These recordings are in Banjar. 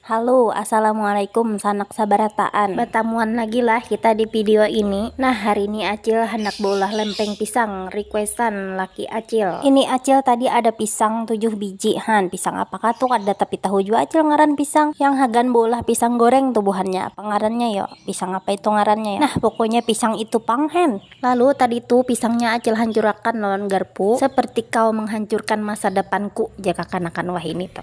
Halo, Assalamualaikum sanak sabarataan. Batamuan lagi lah kita di video ini. Nah, hari ini Acil handak baulah lempeng pisang, requestan laki Acil. Ini Acil tadi ada pisang tujuh biji han, pisang apakah tu kada tapi tahu jua Acil ngaran pisang yang hagan baulah pisang goreng tu buhannya, apa ngarannya yo, pisang apa itu ngarannya yo. Nah, pokoknya pisang itu pang hen. Lalu tadi tu pisangnya acil hancurakan lawan garpu seperti kau menghancurkan masa depanku jar kakanakan wahini tu.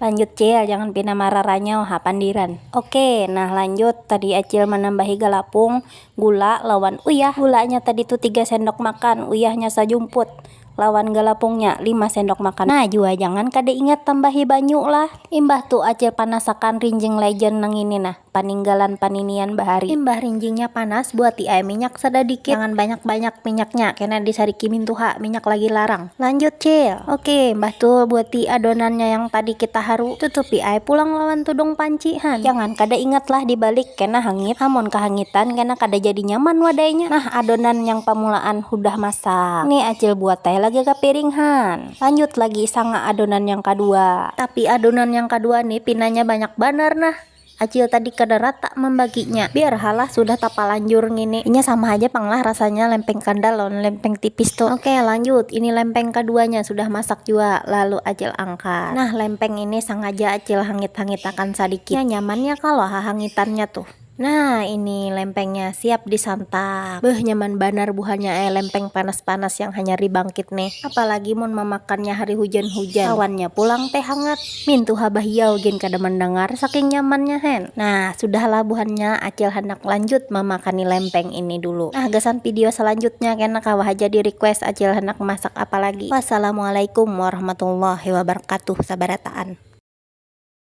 Lanjut cil jangan pina mararanyau ha pandiran. Ok nah lanjut tadi acil manambahi galapung, gula lawan uyah. Gulanya tadi tu tiga sendok makan, uyahnya sajumput. lawan galapungnya lima sendok makan nah jua jangan kada ingat tambahi banyu lah imbah tu acil panasakan rinjing legend nangini nah paninggalan paninian bahari imbah rinjingnya panas buati ai minyak sadadikit jangan banyak banyak minyaknya kena disariki mintuha minyak lagi larang lanjut cil ok imbah tu buati adonannya yang tadi kita haru tutupi ai pulang lawan tudung panci han jangan kada ingat lah dibalik kena hangit amun kahangitan kena kada jadi nyaman wadainya nah adonan yang pamulaan. Hudah masak. Ni Acil buat teh lagi ka piring han. Lanjut lagi sanga adonan yang kadua. Tapi adonan yang kadua ni pinanya banyak banar nah. Acil tadi kada ratak mambaginya. Biar ha lah sudah tapalanjur ngini. Inya sama haja pang lah rasanya lempeng kandal lawan lempeng tipis tu. Oke lanjut, ini lempeng kaduanya sudah masak jua. Lalu Acil angkat. Nah lempeng ini sangaja Acil hangit-hangitakan sadikit. Nya nyamannya kalo hahangitannya tuh. Nah ini lempengnya siap disantap beuh nyaman banar buhannya ai lempeng panas panas yang hanyar dibangkit nih apalagi mun mamakannya hari hujan hujan lawannya pulang teh hangat mintuha bahiau gin kada mandangar saking nyamannya hen nah sudah lah buhannya acil handak lanjut mamakani lempeng ini dulu nah gasan video salanjutnya kena kawa haja di request acil handak masak apalagi wassalamualaikum warahmatullahi wabarakatuh sabarataan.